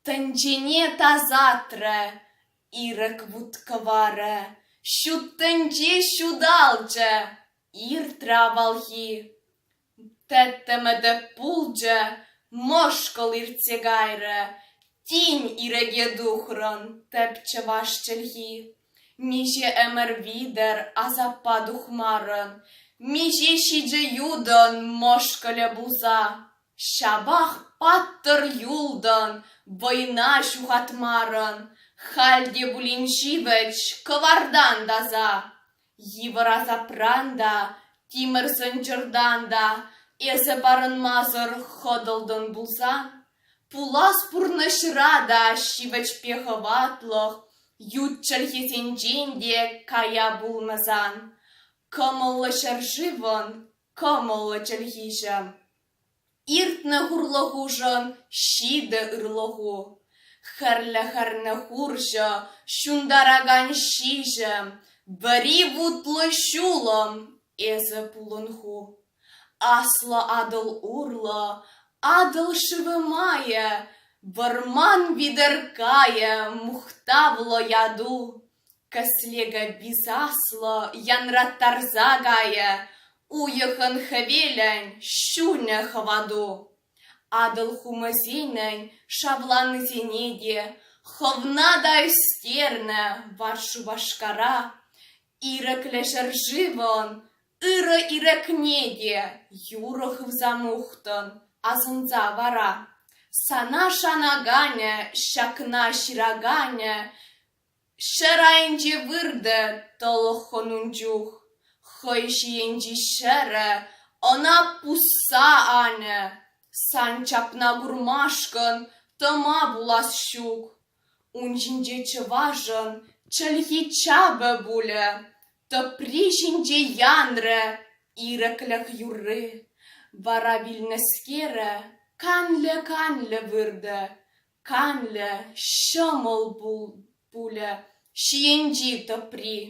Тӗнчене тасатрӗ, ирӗк вут-кӑварӗ, Ҫут тӗнче ҫуталчӗ, иртрӗ авалхи. Тӗттӗмӗтӗ пулчӗ, мӑшкӑл иртсе кайрӗ, Тин ирӗке тухрӑн тӗп чӑваш чӗлхи. Миҫе ӗмӗр витӗр асаппа тухмарӑн, миҫе ҫичӗ ютӑн мӑшкӑлӗ пулса, ҫапах паттӑр юлтӑн, вӑйна ҫухатмарӑн, халь те пулин ҫивӗч кӑвартан таса. Йывӑр асапран та, тимӗр сӑнчӑртан та эсӗ парӑнмасӑр хӑтӑлтӑн пулсан, Пулас пурнӑҫра та ҫивӗчпе хӑватлӑх ют чӗлхесенчен те кая пулмасан кӑмӑллӑ ҫӗршывӑн кӑмӑллӑ чӗлхиҫӗ. Иртнӗ хурлӑхушӑн ҫитӗ ырлӑху, хӗрлӗ-хӗрлӗ хурҫӑ, ҫунтаракан ҫиҫӗм, вӗри вутлӑ ҫулӑм, эсӗ пулӑнху. Аслӑ Атӑл урлӑ Атӑл шывӗ майӗ Вӑрман витӗр кайӗ Мухтавлӑ яту Кӗслеке висаслӑ Янраттарса кайӗ Уйӑхӑн хӗвелӗн Ҫунӗ хӑвату. Атӑл хумӗсенӗн шавланисене те Хӑвна та ӳстернӗ вар Шупашкара. Ирӗклӗ ҫӗршывӑн Ырӑ ирӗкне те юрӑ хывса мухтӑн, асӑнса вара. Сана шанаканӗ, ҫакна ҫыраканӗ ҫӗр айӗнче выртӗ тӑлӑххӑн ун чух. Хӑй ҫийӗнчи ҫӗрӗ ӑна пусса анӗ. Сан чапна курмашкӑн тӑма пулас ҫук. Ун ҫинче чӑвашӑн чӗлхи чапӗ пулӗ. Тӑпри ҫинче янрӗ ирӗклӗх юрри, вара вилнӗскере канлӗ-канлӗ выртӗ, канлӗ ҫӑмӑл пулӗ ҫийӗнчи тӑпри.